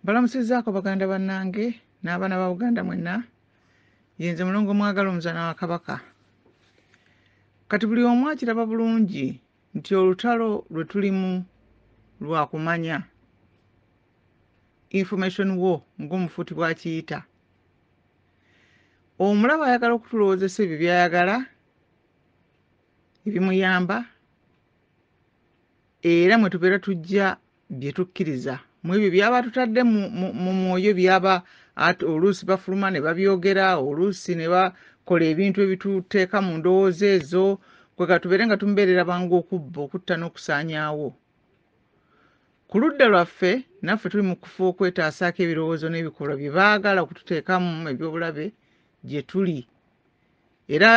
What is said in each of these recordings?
balamusizaako baganda bannange n'abaana ba buganda mwenna yenze mulongo mwagala omuzana wa kabaka kati buli omu akiraba bulungi nti olutalo lwe tulimu lwa kumanya information wo ng'omufuuti bw'akiyita omulaba ayagala okutulowoozesa ebyo by'ayagala ebimuyamba era mwe tubeera tujja bye tukkiriza mu ebyo byaba atutadde mu mwoyo byaba oluusi bafuluma ne babyogera oluusi ne bakola ebintu ebituteeka mu ndowooza ezo kwega tubeere nga tumubeerera bangu okubba okutta n'okusaanyaawo ku ludda lwaffe naffe tuli mu kufa okwetaasaako ebirowoozo n'ebikolwa bye baagala okututeekamu ebyobulabe gye tuli era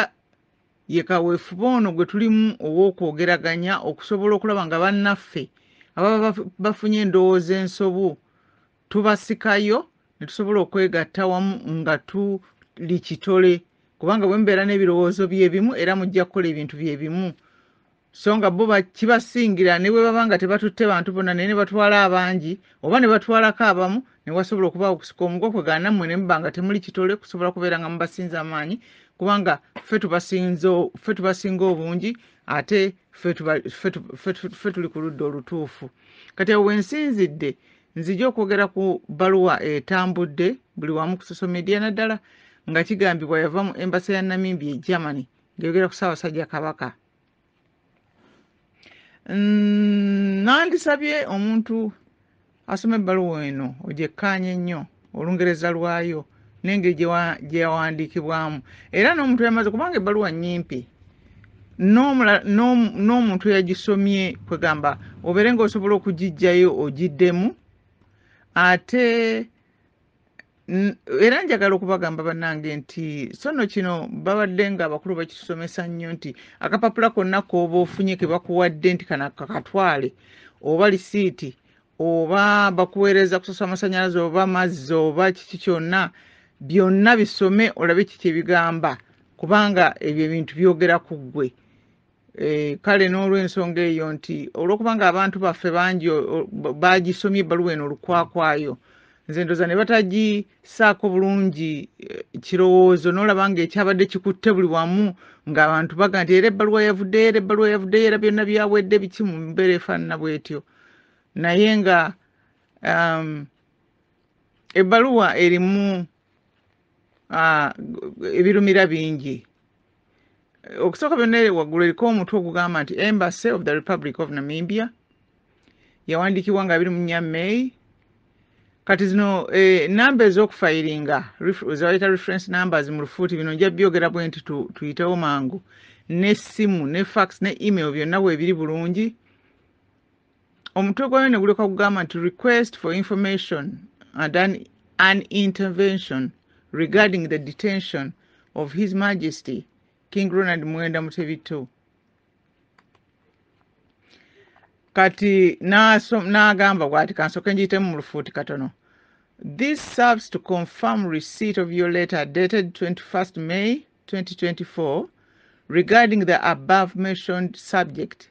Ye kaweefube ono gwe tulimu ow'okwogeraganya okusobola okulaba nga bannaffe ababa bafunye endowooza ensobu tubasikayo ne tusobola okwegatta wamu nga tuli kitole kubanga bwe mubeera n'ebirowoozo bye bimu era mujja kukola ebintu bye bimu so nga bo kibasingira ne bwe baba nga tebatutte bantu bonna naye ne batwala abangi oba ne batwalako abamu ne wasobola okuba okusika omugwa kwe gaana mmwe ne muba nga temuli kitole kusobola kubeera nga mubasinza amaanyi kubanga ffe tubasinza ffe tubasinga obungi ate ffe tuli ku ludda olutuufu kati awo wensinzidde nzija okwogera ku bbaluwa etambudde buli wamu ku social media naddala nga kigambibwa yava mu embasa ya namimbi e germany ngeyogera ku ssaabasajja kabaka Mm, nandisabye omuntu asoma ebbaluwa eno ogyekkaanya ennyo olungereza lwayo n'engeri gyeyawandiikibwamu era n'omuntu yamaze kubanga ebbaluwa nyimpi n'omuntu eyagisomye kwegamba obeere nga osobola okugijjayo ogiddemu ate era njagala okubagamba bannange nti sono kino babadde nga abakulu bakisomesa nnyo nti akapapula konna kooba ofunye ke bakuwadde nti kana kakatwale oba lisiiti oba bakuweereza kusosa amasanyalaze oba mazzi oba kiki kyonna byonna bisome olabe kiki ebigamba kubanga ebyo ebintu byogera ku ggwe Eh, kale n'olwensonga eyo nti olwokuba nga abantu baffe bangi bagisomye ebbaluwa eno olukwakwayo nze ndoza ne batagisaako bulungi eh, kirowoozo n'olaba nga ekyabadde kikutte buli wamu ng'abantu baga nti era ebbaluwa yavuddeyo era ebbaluwa yavuddeyo era byonna byawedde biki mu mbeera efaanana bwetyo naye nga um, ebbaluwa erimu ah, ebirumira bingi okusooka byonna waggulu eriko omutwe ogugamba nti embassy of the republic of namibia yawandiikibwa nga abiri mu nnya may kati zino eh, namba ez'okufayiringa zebayita reference numbers mu lufuuti bino nja byogera bwe nti tuyitewo mangu n'essimu ne fax ne email byonna weebiri bulungi omutwe gwayo ne guleka kugamba nti request for information and an, an intervention regarding the detention of his majesty king ronald mwenda mutebi ii kati n'agamba bwati kansooke ngiyitemu mu lufuuti katono this serves to confirm receipt of your letter dated 21st may 2024 regarding the above mentioned subject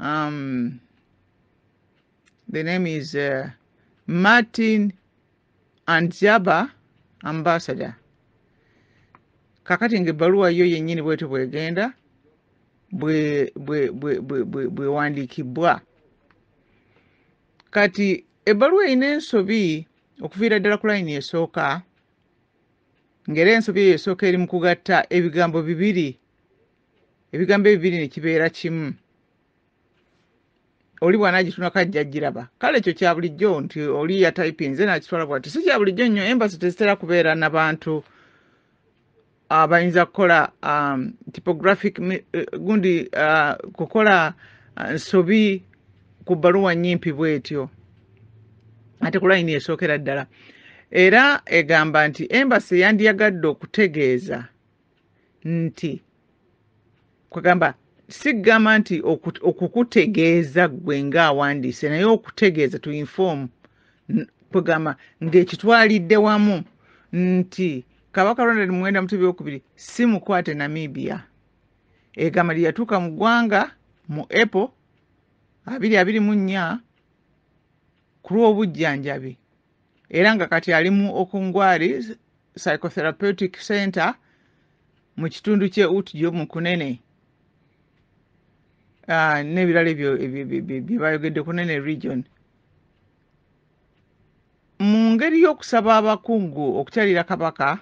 Um, the name is uh, Martin Anzaba Ambassador. Kakati ngebaluwa yo yenyini bwetu bwegenda bwe bwe bwe bwe bwe bwe wandiki bwa. Kati ebaluwa inenso bi okufira dala kula ini esoka. Ngere enso bi esoka eri mkugatta ebigambo bibiri ebigambo ebibiri ne kibeera kimu oli bw'anaagitunako ajja giraba kale ekyo kya bulijjo nti oli yatayipinze n'akitwala bwati si kya bulijjo nnyo embasi tezitera kubeera na bantu abayinza kukola um, typographic eh, gundi uh, kukola uh, nsobi ku bbaluwa nnyimpi bw'etyo ate ku layini esookera ddala era egamba nti embasi yandiyagadde okutegeeza nti kwegamba sigamba nti okukutegeeza ggwe ng'awandiise naye okutegeeza to inform kwegamba ng'ekitwalidde wamu nti kabaka ronald muwenda mutebi okubiri si mukwate namibia egamba lye yatuuka mu ggwanga mu apple abiri abiri mu nnya ku lw'obujjanjabi era nga kati ali mu okungwari psychotherapeutic center mu kitundu kye utjo mu kunene ah, n'ebirala ebyo bye bayogedde kunene region mu ngeri y'okusaba abakungu okukyalira kabaka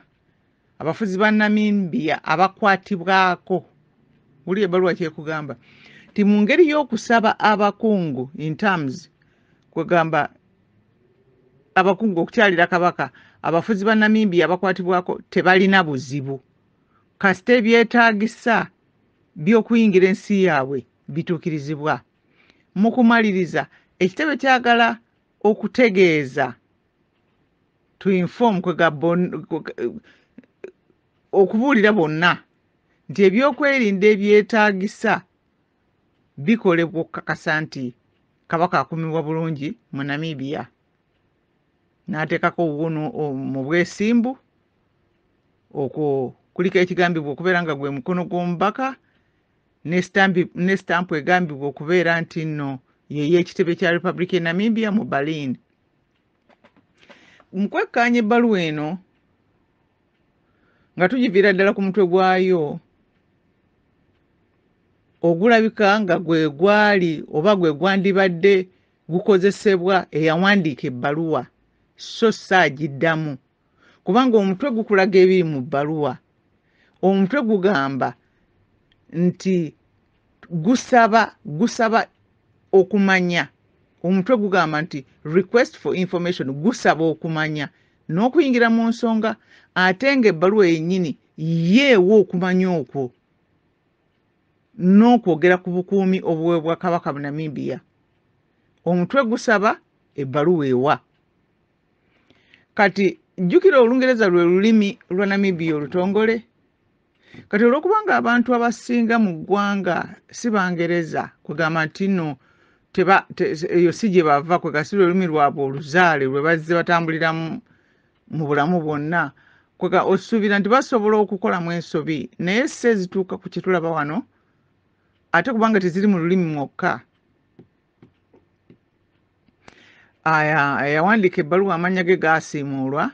Abafuzi ba Namibia abakwatibwako wuli ebaluwa kyekugamba nti mu ngeri y'okusaba abakungu in terms kwegamba abakungu okukyalira kabaka abafuzi ba Namibia abakwatibwako tebalina buzibu kasita ebyetaagisa by'okuyingira ensi yaabwe bituukirizibwa mu kumaliriza ekitebe kyagala okutegeeza to inform kwega okubuulira bonna nti ebyokwerinda ebyetaagisa bikolebwa okukakasa nti kabaka akumibwa bulungi mu namibia n'ateekako obuwunu mu bwesimbu okwo kuliko ekigambibwa okubeera nga gwe mukono gw'omubaka ne sitampu egambibwa okubeera nti nno yeyo ekitebe kya republic e namibia mu berlin mu kwekkaanya ebbaluwa eno nga tugiviira ddala ku mutwe gwayo ogulabika nga gwe gwali oba gwe gwandibadde gukozesebwa eyawandiika ebbaluwa so si agiddamu kubanga omutwe gukulaga ebiri mu bbaluwa omutwe gugamba nti gusaba gusaba okumanya omutwe gugamba nti request for information gusaba okumanya n'okuyingira mu nsonga ate ng'ebbaluwa yennyini yeewa okumanya okwo n'okwogera ku bukuumi obuweebwa kabaka bunamibia omutwe gusaba ebbaluwa ewa kati jjukira olungereza lwe lulimi lwa namibia olutongole kati olwokuba nga abantu abasinga mu ggwanga si bangereza kwegamba nti no eyo si gye bava kwegasi lwe lulimi lwabwe oluzaale lwe bazze batambuliramu mu bulamu bwonna kwega osuubira nti basobola okukolamu ensobi naye si ezituuka ku kyetulaba wano ate kubanga teziri mu lulimi mwokka aya eyawandiika ebbaluwa amannya ge gaasiimuulwa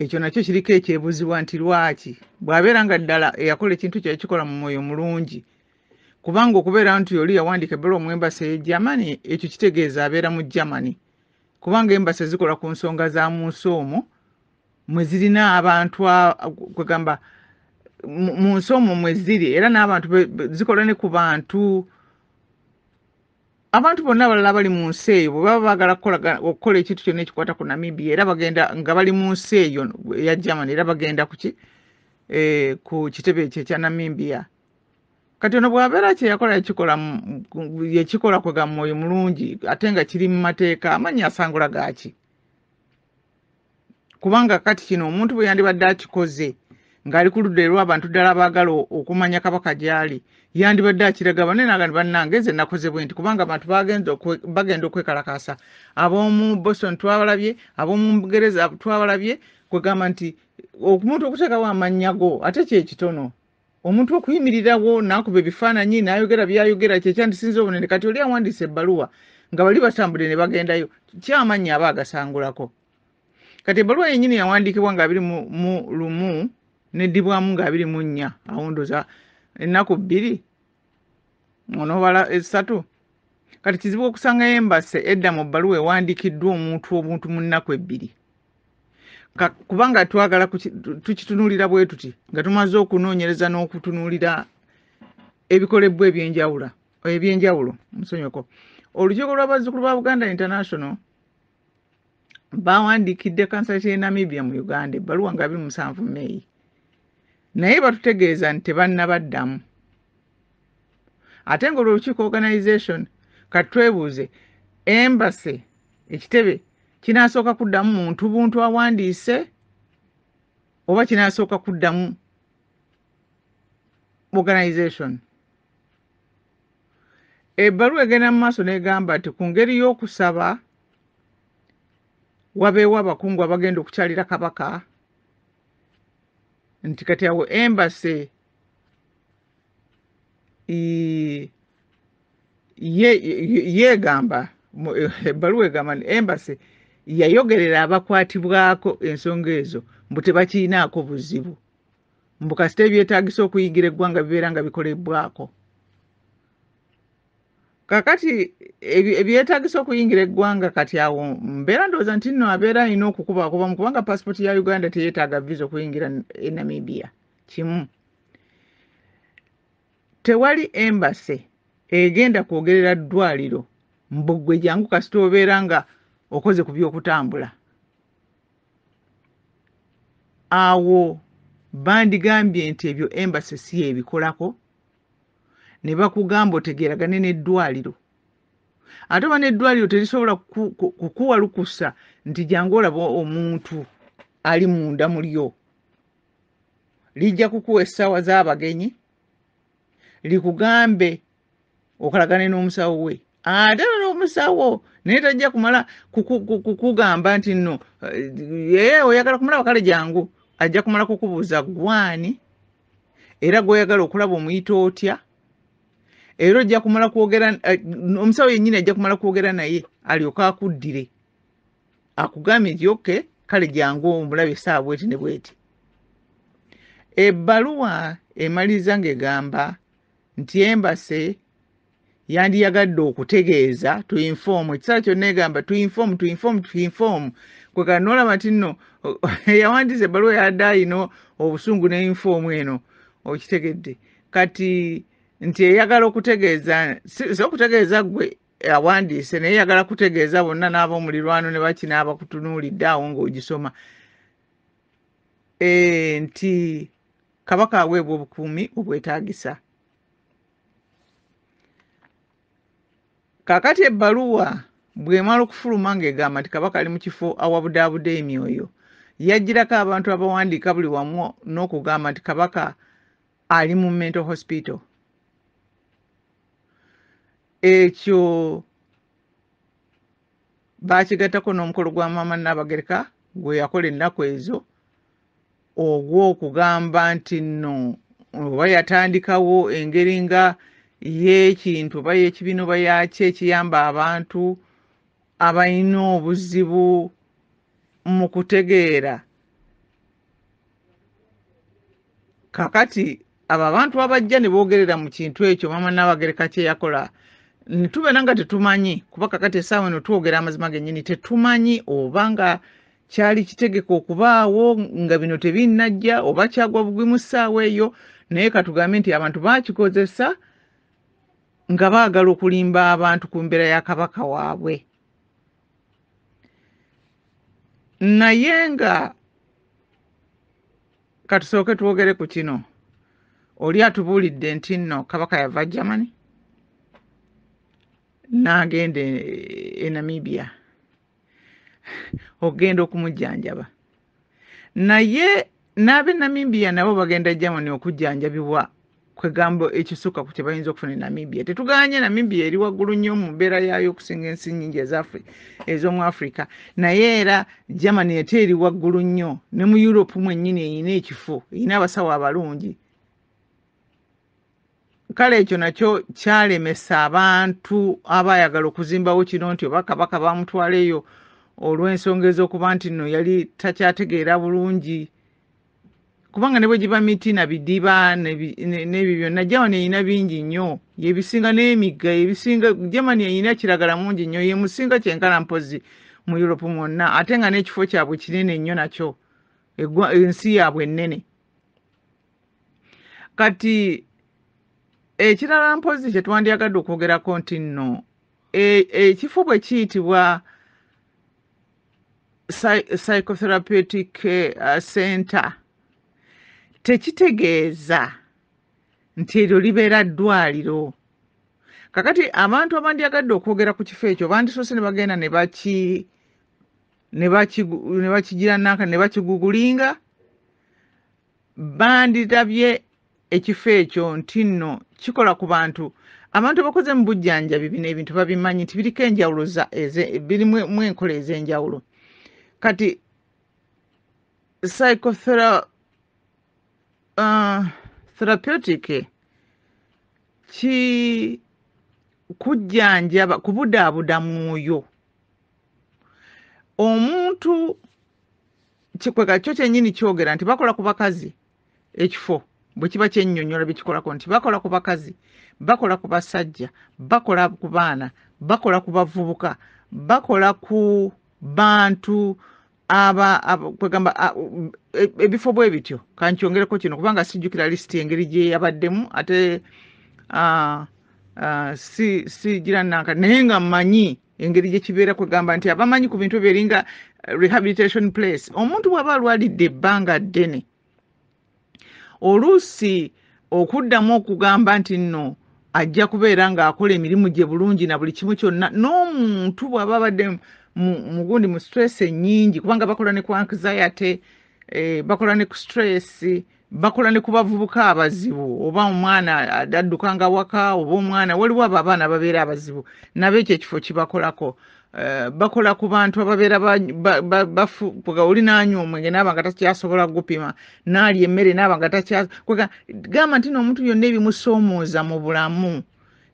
ekyo nakyo kiriko ekyebuzibwa nti lwaki bw'abeera nga ddala eyakola ekintu kye yakikola mu mwoyo mulungi kubanga okubeera nti oli yawandiika ebbaluwa mu embasi eye germany ekyo kitegeeza abeera mu germany kubanga embasi zikola ku nsonga za mu nsi omwo mwe zirina abantu kwegamba mu nsi omwo mwe ziri era n'abantu zikola ne ku bantu abantu bonna abalala abali mu nsi eyo bwe baba baagala okukola ekintu kyonna ekikwata ku namibia era bagenda nga bali mu nsi eyo eya germany era bagenda kuki eh, ku kitebe ekyo ekya namibia kati ono bw'abeera kyeyakola yakikola yekikola kwega mwoyo mulungi ate nga kiri mu mateeka amannya asangula gaaki kubanga kati kino omuntu bwe yandibadde akikoze ng'ali ku ludda erw'abantu ddala abaagala okumanya kabaka gy'ali yandibadde akiraga bane naga ni bannange nze nakoze bwe nti kubanga abantu bagenda okwekalakaasa ab'omu boston twabalabye ab'omu bugereza twabalabye kwegamba nti omuntu okuteekawo amannya go ate kyekitono omuntu okuyimirirawo n'akuba ebifaananyi n'ayogera by'ayogera kye kyandisinza obunene kati oli awandiisa ebbaluwa nga bali batambudde ne bagendayo kyamannya aba agasangulako kati ebbaluwa yennyini yawandiikibwa nga abiri mu lumu neddibwamu nga abiri mu nnya awo ndoza ennaku bbiri onobala esatu kati kizibu okusanga embase edda mu bbaluwa ewandiikiddwa omuntu obuntu mu nnaku ebbiri kubanga twagala tukitunulira bwe tuti nga tumaze okunoonyereza n'okutunulira ebikolebbwa ebyenjawula ebyenjawulo musonyoko olukiiko lw'abazzukulu ba buganda international baawandiikidde kansala kye namibia mu uganda ebbaluwa nga biri musanvu meeyi naye batutegeeza nti tebannabaddamu ate nga olwolukiiko organization kati twebuuze embase ekitebe kinasooka kuddamu muntu buntu awandiise oba kinasooka kuddamu organization Ebbaluwa egenda mu maaso n'egamba nti ku ngeri y'okusaba wabeewo abakungu abagenda okukyalira kabaka nti kati awo embase yeegamba ebbaluwa egamba nti embase yayogerera abakwatibwako ensonga ezo mbu tebakirinaako buzibu mbu kasita ebyetagisa okuyigira eggwanga bibeera nga bikolebbwako kakati ebyetagisa okuyingira eggwanga kati awo mbeera ndowooza nti nno abeera alina okukubakubamu kubanga pasipooti ya uganda teyetaaga visa okuyingira e namibia kimu tewali embase egenda kwogerera ddwaliro mbugwe jangu kasita obeera nga okoze ku byokutambula awo bandigambye nti ebyo embasi si yebikolako ne bakugamba otegeeragane n'eddwaliro ate oba n'eddwaliro terisobola kukuwa lukusa nti jangu olaba omuntu ali munda mulyo lijja kukuwa essaawa z'abagenyi likugambe okolagane n'omusawo we ate ah, lero omusawo naye tajja kumala kukugamba nti nno ye eh, oyagala kumulaba kale jangu ajja kumala kukubuuza gwani era gwoyagala okulaba omuyita otya era ojja kumala kwogera eh, omusawo yennyini ajja kumala kwogera naye alyoke akuddire akugambye nti oke kale jangu omulabe esaawa bweti ne bweti ebbaluwa emaliriza ng'egamba nti embase yandiyagadde okutegeeza to inform ekiseera kyonna egamba to inform to inform to inform kwekala nolaba nti nno yawandiisa ebbaluwa yadde alina obusungu ne inform eno okitegedde kati nti eyagala okutegeeza si okutegeeza gwe awandiise naye yagala kutegeeza bonna n'abaomulirwano ne bakina abakutunuulidde awo ng'ogisoma eh, nti kabaka aweebwa obukuumi obwetaagisa kakati ebbaluwa bwemala okufuluma ng'egamba nti kabaka ali mu kifo awabudaabuda emyoyo yajjirako abantu abawandiika buli wamu n'okugamba nti kabaka ali mu mental hospital ekyo baakigattako n'omukolo gwa maama nnaabagereka gwe yakola ennaku ezo ogw'okugamba nti nno oba yatandikawo engeri nga y'ekintu oba y'ekibiina oba yaki ekiyamba abantu abalina obuzibu mu kutegeera kakati abo abantu abajja ne boogerera mu kintu ekyo maama naabagereka kye yakola ne tubeera nga tetumanyi kuba kakati essaawa eno twogera amazima gennyini tetumanyi oba nga kyali kitegeka okubaawo nga bino tebinnajja oba kyagwa bugwi mu ssaawa eyo naye katugambe nti abantu baakikozesa nga baagala okulimba abantu ku mbeera ya kabaka waabwe naye nga katusooke twogere ku kino oli atubuulidde nti nno kabaka yava germany n'agenda e, e namibia okugenda okumujjanjaba naye n'abe namibia nabo bagenda germany okujjanjabibwa kwegamba ekisukka ku kyebayinza okufuna e namibia tetuganye namibia eri waggulu nnyo mu mbeera yaayo okusinga ensi nyingi ezaffe ez'omu africa naye era germany ete eri waggulu nnyo ne mu europe mwennyini erina ekifo erina abasawo abalungi kale ekyo nakyo kyalemesa abantu abayagala okuzimbawo kino nti oba kabaka bamutwala eyo olw'ensonga ez'okuba nti nno yali takyategeera bulungi kubanga ne bwe giba miti na bidiba n'ebyo byonna jamani erina bingi nnyo yebisinga n'emigga yebisinga jamani erina kiragala mungi nnyo yemusinga kyenkana mpozi mu europe mwonna ate nga n'ekifo kyabwe kinene nnyo nakyo ensi yaabwe ennene kati ekirala mpozi kye twandyagadde okwogerako nti nno e, ekifo bwe kiyitibwa psychotherapeutic uh, center tekitegeeza nti eryo libeera ddwaliro kakati abantu abandyagadde okwogera ku kifo ekyo bandisoose ne bagenda ne baki ne bakigiranaka ne bakigugulinga bandilabye ekifo ekyo nti nno kikola ku bantu abantu abakoze mu bujjanjabi bino ebintu babimanyi nti biriko enjawulo birimu enkola ez'enjawulo kati psychotherapeutic uh, ki kujjanjaba kubudaabuda mwoyo omuntu kikweka kyo kyenyini kyogera nti bakola ku bakazi ekifo bwe kiba kyennyonnyola bye kikolako nti bakola ku bakazi bakola ku basajja bakola ku baana bakola ku bavubuka bakola ku bantu aba kwegamba e, ebifo bwe bityo kankyongereko kino kubanga sijjukira lisiti engeri gye yabaddemu ate sigira nanka naye nga mmanyi engeri gye kibeera kwegamba nti abamanyi ku bintu ebyo eringa rehabilitation place omuntu bw'aba alwalidde ebbanga ddene oluusi okuddamu okugamba nti nno ajja kubeera ng'akola emirimu gye bulungi na buli kimu kyonna n'omuntu bw'aba abadde mugundi mu stress ennyingi kubanga bakola ne ku anxiety eh, bakola ne ku stress bakola ne ku bavubuka abazibu oba omwana adduka nga waka oba omwana waliwo abo abaana babeera abazibu nabo ekyo ekifo kibakolako Eh, bakola ku bantu ababeera bafuga oli nanywa omwenge naaba nga takyasobola gupima naali emmere naaba nga takyagamba nti noomuntu yonna ebimusoomooza mu bulamu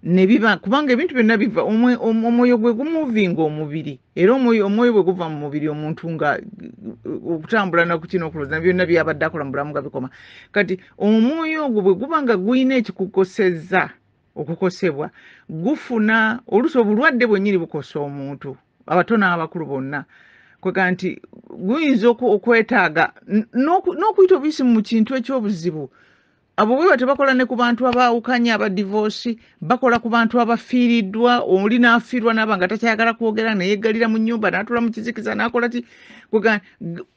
nebiba kubanga ebintu byonna biva omwoyo gwe gumuvinga omubiri era omwoyo bwe guva mu mubiri omuntu nga uh, okutambula nakukina okuloza byonna byabadde akola mu bulamu nga bikoma kati omwoyo ogwo bwe guba nga gulina ekikukoseza okukosebwa gufuna oluusi obulwadde bwennyini bukosa omuntu abato n'abakulu bonna kwega nti guyinza okwetaaga n'okuyita obuyisi mu kintu ekyobuzibu abo bweba tebakola ne ku bantu abaawukanye abadivoosi bakola ku bantu abafiiriddwa oli n'afiirwa naaba nga takyayagala kwogera neyeggalira mu nyumba n'atula mu kizikiza n'akola ti kwega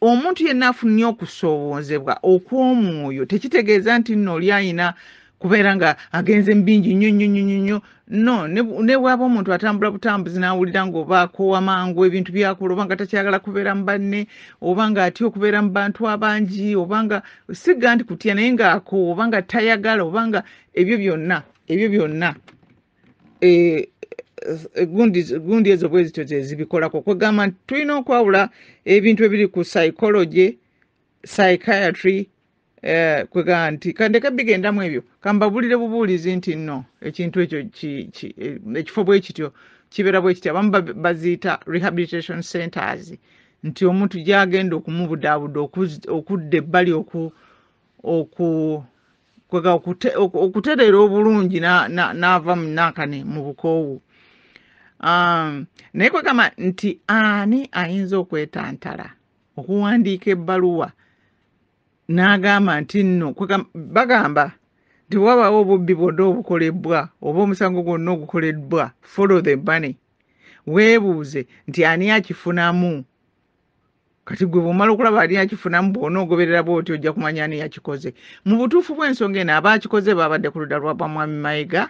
omuntu yenna afunye okusoowoozebwa okw'omwoyo tekitegeeza nti nno oli ayina kubeera nga agenze mu bingi nnyo nnyo nnyo nnyo no ne bwaba omuntu atambula butambuzi n'awulira ng'oba akoowa mangu ebintu byakola oba nga takyagala kubeera mu banne oba nga atya okubeera mu bantu abangi oba nga sigga nti kutya naye ng'akoowa oba nga tayagala oba nga ebyo byonna ebyo byonna eh, eh, gundi ezo bwe zityo zezibikolako kwegamba nti tulina okwawula ebintu ebiri ku psychology psychiatry eh, kwegamba nti kandeke bigendamu ebyo kambabulire bubuulizi nti no ekintu ekyo eh, ekifo bwe kityo kibeera bwe kityo abamu baziyita rehabilitation centers nti omuntu gyagenda okumubudaabuda okudda ebbali oku oku kwega okutereera obulungi n'ava mu nakane mu bukoowu um, naye kwegamba nti ani ayinza okwetantala okuwandiika ebbaluwa n'agamba nti nno bagamba nti wabaawo obubbi bwonna obukolebbwa oba omusango gwonna ogukoleddwa follow the money weebuuze nti ani akifunamu kati gwe bwomala okulaba ani akifunamu bwona ogoberera bwoti ojja kumanya ani yakikoze mu butuufu bw'ensonga eno abaakikoze baabadde ku ludda lwa bamwami mayega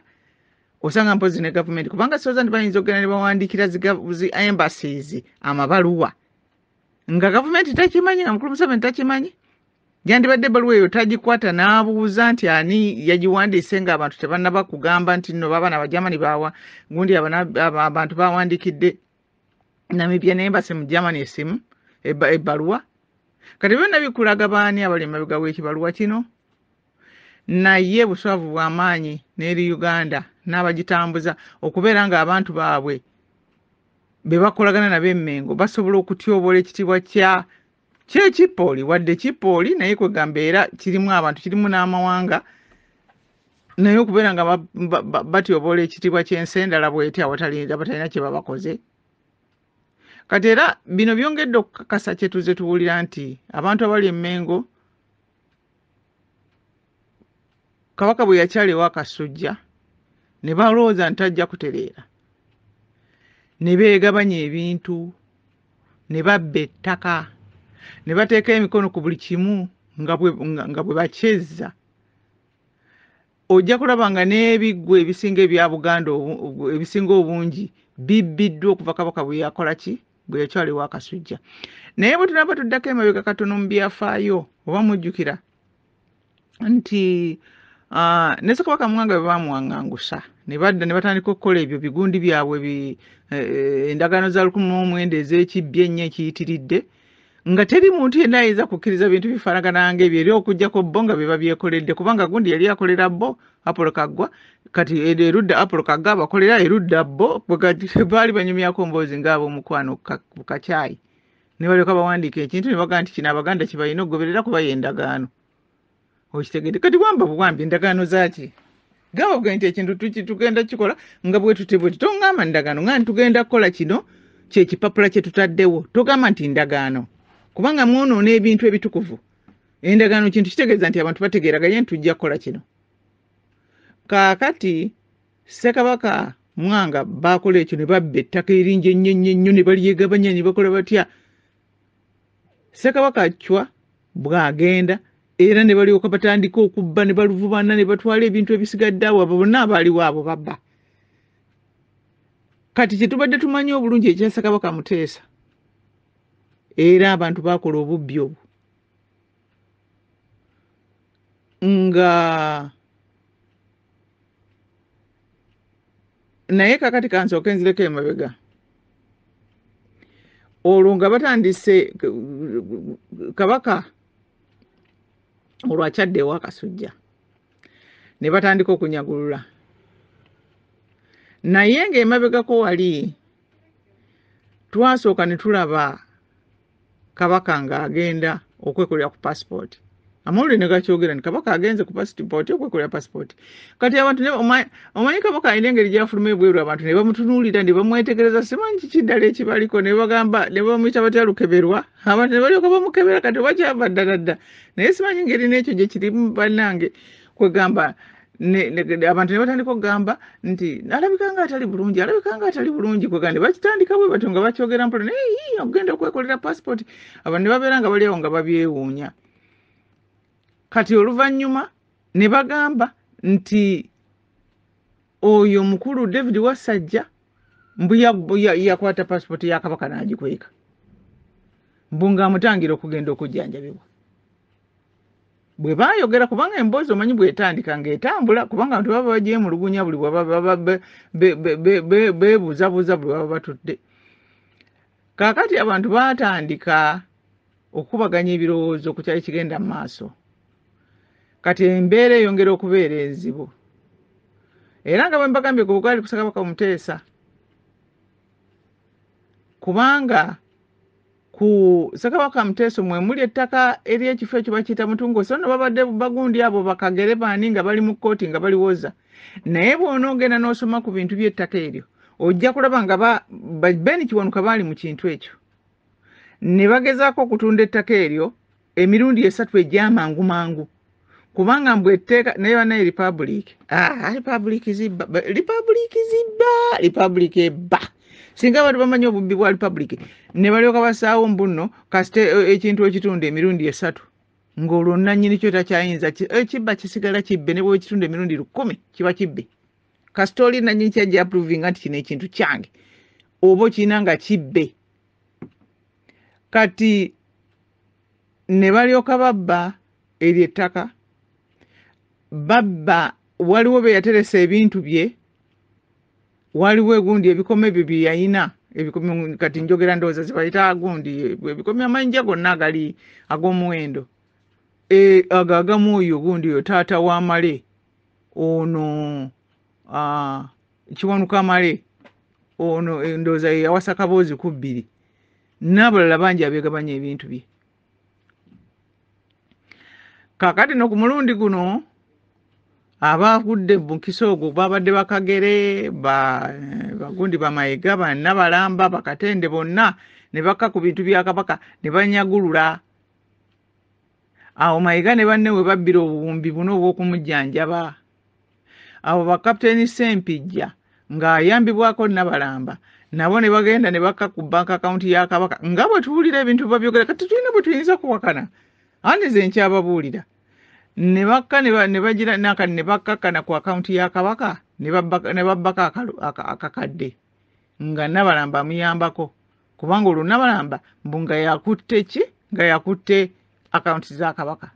osanga mpozi ne gavumenti kubanga soza nti bayinza okugenda ne bawandiikira zi embassies amabaluwa nga gavumenti takimanyi nga mukulu museveni takimanyi yandibadde ebbaluwa eyo tagikwata n'abuuza nti ani yagiwandiise nga abantu tebanaba kugamba nti no baabana abajamani baawa gundi abantu bawandikidde namibia naye mbase mu germany esimu ebbaluwa kati byonna bikulaga baani abali emabega w'ekibaluwa kino naye buswavu bw'amaanyi n'eri uganda n'abagitambuza okubeera ng'abantu baabwe be bakolagana nabo emengo basobola okutyoboola ekitiibwa kya kyekipooli wadde kipooli naye kwegamba era kirimu abantu kirimu n'amawanga naye okubeera nga batyoboola ekitiibwa ky'ensi endala bweti abatalina kye babakoze kati era bino byongedde okukakasa kyetuze tuwulira nti abantu abali emengo kabaka bwe yakyala ewa kasujja ne balowooza nti tajja kutereera ne beegabanya ebintu ne babba ettaka ne bateeka emikono ku buli kimu nga bwe bakyezza ojja kulaba nga n'ebiggwa ebisinga ebya buganda ebisinga obungi bibbiddwa okuva kabaka bwe yakola ki bwe yakyala ewa kasujja naye bwe tunaba tuddako emabega katono mu byafaayo oba mujjukira nti ah, ne ssekabaka mwanga bwe baamuwaŋŋangusa ne badda ne batandika okukola ebyo bigundi byabwe bi- eh, eh, endagaano za lukumi mu omwenda ez'ekibbi ennyo ekiyitiridde nga teri muntu yenna ayinza kukkiriza bintu bifaanagana ng'ebyo era okuggyako bo nga be babyekoledde kubanga gundi yali akolera bo apolo kaggwa kati eri erudda apolo kaggwa abakolera erudda bo bwe kati baali banyumyako mboozi ng'ab'omukwano ku ka- ku kacaayi ne balyoka bawandiika ekintu ne bagamba nti kino abaganda kibalina okugoberera kuba yendagaano okitegede kati wamba buwambi endagaano zaki gamba bugee nti ekintu tugenda kikola nga bwetutebweti tongamba ndagaano nga ntitugenda kukola kino kyekipapula kyetutaddewo togamba nti ndagaano kubanga mwonoona ebintu ebitukuvu endagaano kintu kitegeeza nti abantu bategeeraganye nti tujja kukola kino kaakati ssekabaka mwanga baakola ekyo ne babba ettaka eringi ennyo ennyo ennyo ne balyegabanya ne bakola batya ssekabaka acwa bw'agenda era ne balyoka batandika okubba ne baluvubana ne batwala ebintu ebisigadde awo abo bonna abaaliwo abo babba kati kye tubadde tumanyi obulungi ekya ssekabaka muteesa era abantu baakola obubbi obwo nga naye kakati kansooke nzireko emabega olwo nga batandise kabaka olwo akyadde ewa kasujja ne batandika okunyagulula naye ng'emabegako wali twasooka ne tulaba kabaka ng'agenda okwekolera ku pasipooti amawulire ne gakyogera nti kabaka agenze ku pasipooti okwekolera pasipooti kati abantu omanyi kabaka alina engeri gyafuluma ebweru abantu ne bamutunuulira ne bamwetegereza simanyi kiki ddala ekibaliko ne bagamba ne bamuyita batya lukeberwa abantu ne balyoka bamukebera kati oba kyava ddala dda naye simanyi ngeri n'ekyo gye kirimu bannange kwegamba ne- ne- ne- abantu ne batandika okugamba nti alabika nga atali bulungi alabika nga atali bulungi kwegamba ne bakitandika bwe batyo nga bakyogera mpola naye yii okugenda okwekolera passport abantu ne babeera nga bali awo nga babyewuunya kati oluvannyuma ne bagamba nti oyo mukulu david wasajja mbu ya- ya- yakwata passport ya kabaka n'agikweka mbu ng'amutangira okugenda okujjanjabibwa bwe baayogera kubanga emboozi omanyi bwetandika ng'etambula kubanga abantu baba bagyemulugunya buli bwebaba beebuuzabuuza buli baba batudde kaakati abantu baatandika okukubaganya ebirowoozo ku kyali kigenda mu maaso kati embeera eyongera okubeera enzibu era nga bwe mbagambye ku bugwali kusakabaka omuteesa kubanga ku Ssekabaka Muteeso mwe muli ettaka ery'ekifo ekyo bakiyita Mutungo so no babadde bagundi abo bakagere baani nga bali mu kkooti nga baliwoza naye bw'onoogenda n'osoma ku bintu by'ettaka eryo ojja kulaba nga Ben Kiwanuka baali mu kintu ekyo ne bagezaako okutunda ettaka eryo emirundi esatu egyamangu mangu kubanga mbu etteeka naye banaye republic ah, republic zibba republic zibba republic ebba singa abantu bamanyi obubbi bwa republic ne balyoka basaawo mbunno kasite eh, ekintu ekitundu emirundi esatu ng'olwo nnannyini kyo takyayinza ekibba eh, kisigala kibbe ne bwekitundu emirundi lukumi kiba kibbe kasita oli nnannyini kyajja approvinga nti kino ekintu kyange oba okirina nga kibbe kati ne balyoka babba eryo ettaka babba waliwo be yateresa ebintu bye waliwo egundi ebikoma ebyo bye yalina kati njogera ndowooza zibayita agundi ebikomi amayinja gonna agali ag'omuwendo e, ago agamu oyo gundi oyo taata wamale ono kiwanuka male ono endowooza ye yawasa kaboozi ku bbiri n'abalala bangi abegabanya ebintu bye kakati no ku mulundi guno abagudde mukisa ogwo babadde bakagere bagundi bamayega banabalamba bakatende bonna ne bakka ku bintu bya kabaka ne banyagulula awo mayega ne banne we babbira obuwumbi buno obw'okumujjanjaba abo bakapiteeni ssempijja ng'ayambibwako nabalamba nabo ne bagenda ne bakka ku bank akawunti ya kabaka nga bwe tuwulira ebintu babyogera kati tulina bwe tuyinza kuwakana andi ze nkyababuulira ne bakka ne bagira naka ne bakkakkana ku akawunti ya kabaka ne babbako akakadde nga nabalamba amuyambako kubanga olwo nabalamba mbu nga yakutte ki nga yakutte akawunti za kabaka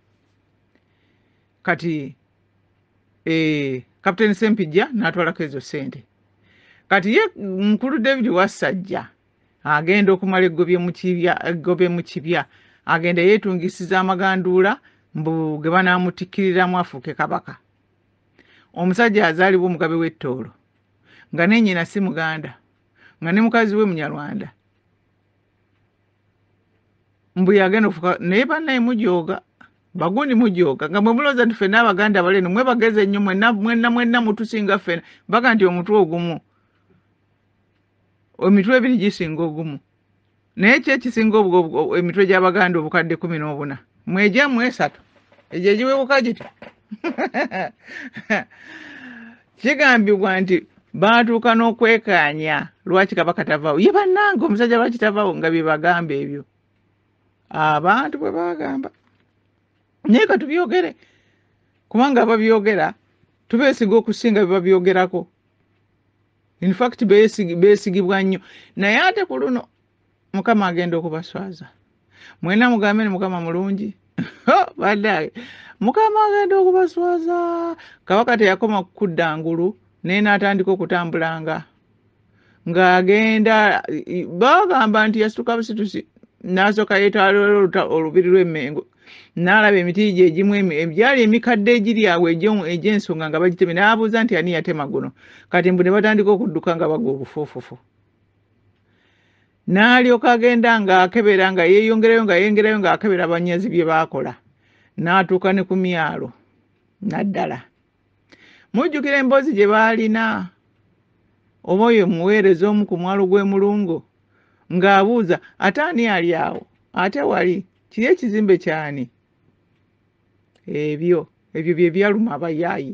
kati eh, captain sempijja natwalako ezo sente kati ye mukulu david wassajja agenda okumala eggobye mu kibya agenda yeetungisiza amaganduula mbu ge banaamutikkiriramu afuuke kabaka omusajja azaalibwa omugabe w'ettoolo nga nenyina si muganda nga ne mukazi we munyarwanda mbu yagenda ofuka naye banaye mujooga bagundi mujooga nga mwe mulooza nti fena abaganda abali eno mwe bagezi ennyo mwenna mwenna mwenna mutusinga fena baga nti omutwe ogumu emitwe ebiri gisinga ogumu naye ki ekisinga emitwe gy'abaganda obukadde kumi n'obuna mwegyamu esatu egyo egiwebuka giti kigambibwa nti baatuuka n'okwekaanya lwaki kabaka tavawo ye bannange omusajja lwaki tavawo nga bye bagamba ebyo abantu bwe bagamba naye ka tubyogere kubanga ababyogera tubeesiga okusinga bye babyogerako infact beesigibwa nnyo naye ate ku luno mukama agenda okubaswaza mwena mugambe ni mukama mulungi badage mukama agenda okubaswaza kabaka teyakoma kukudda ngulu naye natandika okutambulanga ng'agenda bagamba nti yasituka busitusi n'asooka yeetwalira olubiri lw'emmengo n'alaba emiti gye egimu egyali emikadde egiri awo egy'ensonga nga bagitemye n'abuuza nti ani yatema guno kati mbu ne batandika okudduka nga bagwa obufuufufu n'alyoka agenda ng'akebera nga yeeyongerayo nga yeeyongerayo ng'akebera abanyazi bye baakola n'atuuka ne ku myalo naddala mujjukira emboozi gye baalina oba oyo muweereza omu ku mwalo gw'emulungo ng'abuuza ate ani ali awo ate wali kiri ekizimbe kyani ebyo ebyo bye byaluma abayaayi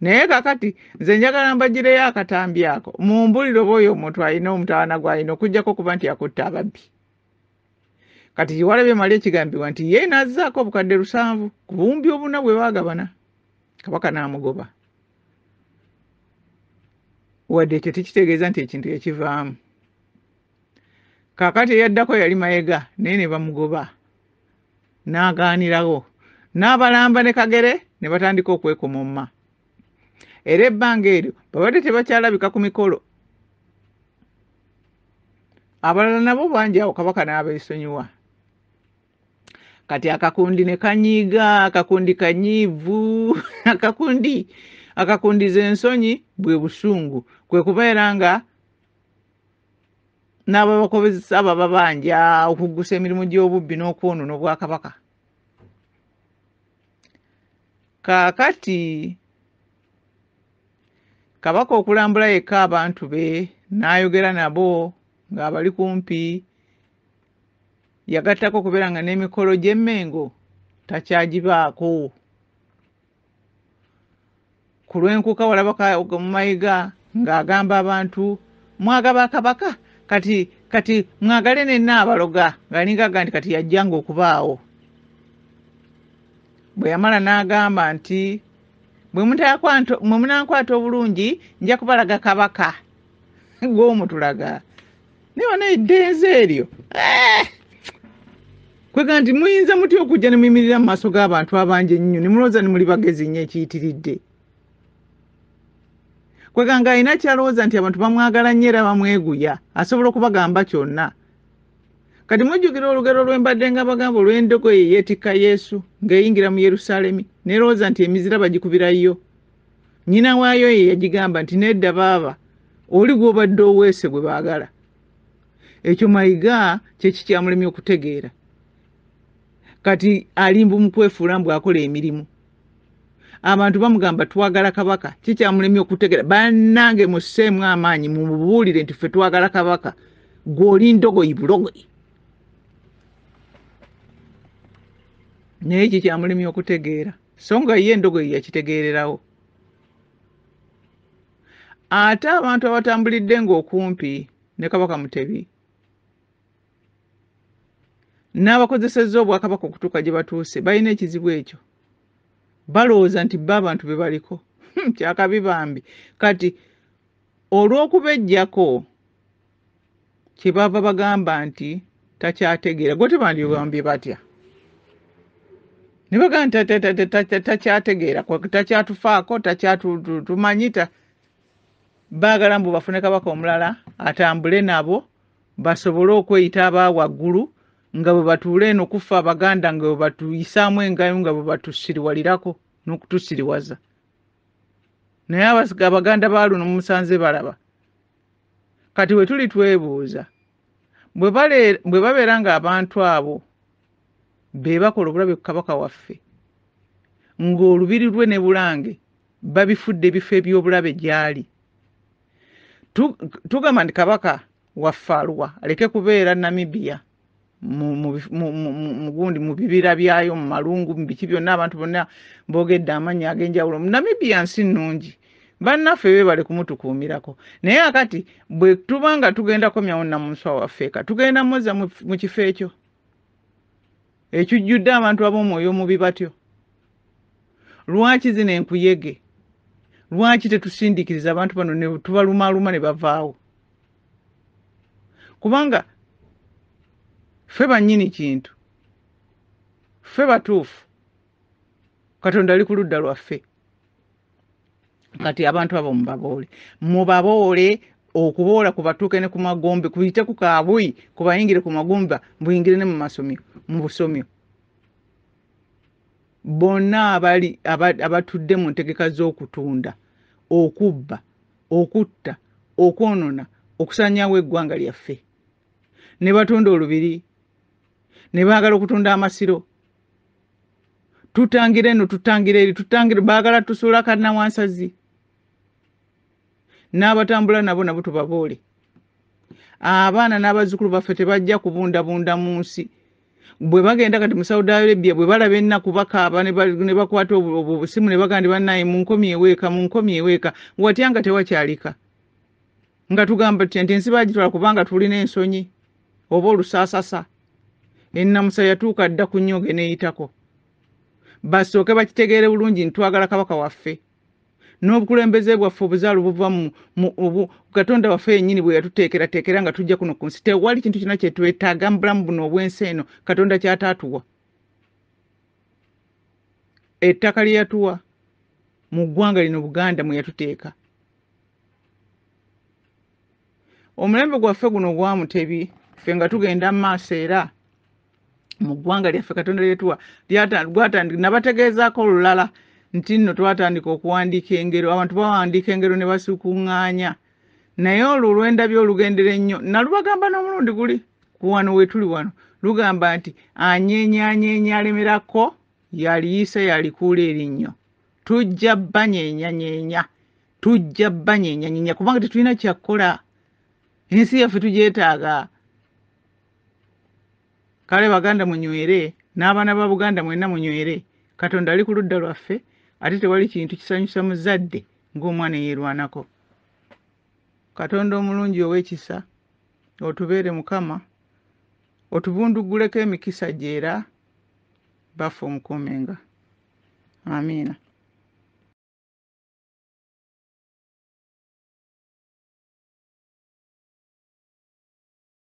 naye kakati nze njagala mbagireyo akatambi ako mumbulire oba oyo omuntu alina omutawana gwalina okujjako okuba nti yakutte ababbi kati kiwalabi emali ekigambibwa nti ye nazaako obukadde lusanvu ku bumbi obuna bwe bagabana kabaka n'amugoba wadde ekyo tekitegeeza nti ekintu yakivaamu kakati eyaddako yali mayega naye ne bamugoba n'agaanirawo n'abalamba ne kagere ne batandika okwekomomma era ebbanga eryo babadde tebakyalabika ku mikolo abalala nabo bangi awo kabaka n'abeesonyiwa kati akakundi ne kanyiiga akakundi kanyiivu akakundi akakundiza ensonyi bwe busungu kwe kubeera nga n'ababakozesa abababanja okuggusa emirimu gy'obubbi n'okwonoona obwakabaka kaakati kabaka okulambula yekka abantu be n'ayogera nabo ng'abali kumpi yagattako okubeera nga n'emikolo gy'emmengo takyagibaako ku lwenkuka walabaka mumayiga ng'agamba abantu mwagaba kabaka kati kati mwagale nenna abaloga ngalingaga nti kati yajjanga okubaawo bwe yamala n'agamba nti bwe munankwata obulungi nja kubalaga kabaka gw'omutulaga naye wana eddenze eryo eh! kwega nti muyinza mutya okujja ne muyimirira mu maaso g'abantu abangi ennyo ne mulowooza ne muli bagezi nnyo ekiyitiridde kwega nga alina kyalowooza nti abantu bamwagala nnyo era bamweguya asobola okubagamba kyonna kati mujjukira olugero lwembadde nga bagamba olw'endogoyi yeetikka yesu ng'eyingira mu yerusaalemi nerowooza nti emizira bagikubirayo nyina waayo ye yagigamba nti nedda baaba oli gwobadde oweese gwe baagala ekyo mayiga kyekikyamulemye okutegeera kati alimbu mukwefuula mbu akola emirimu abantu bamugamba twagala kabaka kikyamulemye okutegeera banange museemu amaanyi mumubuulire nti ffe twagala kabaka gwoli ndogoyi bulogoyi naye kikyamulemye okutegeera so nga ye endogoyi yakitegeererawo ate abantu abatambulidde ng'okumpi ne kabaka mutebi n'abakozesezza obwakabaka okutuuka gye batuuse balina ekizibu ekyo balowooza nti bo abantu be baliko hmm, kyakabi bambi kati olw'okubejjako kyebava bagamba nti takyategeera gwe tebandibambye batya nebagamba nti takyategeera takyatufaako takyatumanyi baagala mbu bafune kabaka omulala atambule nabo basobole okweyita aba waggulu nga bwe batuula eno kuffe abaganda nga bwe batuyisaamu engayo nga bwe batusiriwalirako n'okutusiriwaza naye abaganda ba luno mumusanze balaba Kati bwe tuli twebuuza bwe babeera ng'abantu abo be bakola obulabe ku kabaka waffe ng'olubiri lwe ne bulange babifudde ebifo eby'obulabe gy'ali tugamba nti kabaka waffe aluwa aleke kubeera namibiya mugundi mu bibira byayo mu malungu mu biki byonna abantu bonna boogedde amannya ag'enjawulo namibia nsi nnungi bannaffe bebale kumutukuumirako naye akati bwe tuba nga tugenda komyawo namunswa waffeeka tugenda muzza mu kifo ekyo ekijjudde abantu ab'omwoyo omubi batyo lwaki zino enkuyege lwaki tetusindikiriza abantu bano tubalumaaluma ne bavaawo kubanga ffe bannyini kintu ffe batuufu katonda ali ku ludda lwaffe kati abantu abo mubaboole mubaboole okuboola kubatuuke ne ku magombe kuyite ku kaabuyi kubayingire ku magumba buyingire ne mu masomyo mu busomyo bonna abali abatudde mu ntegeka z'okutunda okubba okutta okwonona okusanyawo eggwanga lyaffe ne batunda olubiri ne baagala okutunda amasiro tutangira eno tutangira eri tutangira baagala tusuula kannawansazi n'abatambula nabo nabo tubaboole abaana n'abazzukulu baffe tebajja kubundabunda mu nsi bwe bagenda kati mu saudi arabia bwe balaba ennaku bakaaba ne ba- ne bakwata obu- obu- obusimu ne bagamba nti bannaye munkomye eweeka munkomye eweeka watya nga tewakyalika nga tugamba tutya nti ensi bagitwala kubanga tulina ensonyi oba olusaasasa ennamusa yatuuka dda ku nnyonge n'eyitako basooke bakitegeere bulungi nti twagala kabaka waffe n'obukulembeze bwaffe obuzaalo buva mu obu katonda waffe yennyini bwe yatuteekerateekera nga tujja kuno ku nsi tewali kintu kyonna kye twetaaga mu bulamu buno obw'ensi eno katonda kyataatuwa ettaka lye yatuwa mu ggwanga lino buganda mwe yatuteeka omulembe gwaffe guno gwamutebi ffe nga tugenda mu maaso era mu ggwanga lyaffe katonda lyetuwa gwatandika nabategeezaako olulala nti nno twatandika okuwandiika engero abantu bawandiika engero ne basukuŋŋaanya naye olwo olwendabye olugendera ennyo nalubagamba n'omulundi guli ku wano wetuli wano lugamba nti anyenyanyeenya alemerako yaliyise yalikuula erinnyo tujja banyenyanyeenya tujja banyenyanyeenya kubanga tetulina kyakkola ensi yaffe tugyetaaga kale baganda munywere n'abaana ba buganda mwenna munywere katonda ali ku ludda lwaffe ate tewali kintu kisanyusa muzadde ng'omwana eyeerwanako katonda omulungi ow'ekisa otubeere mukama otubundugguleko emikisa gye era baffe omukuumenga amiina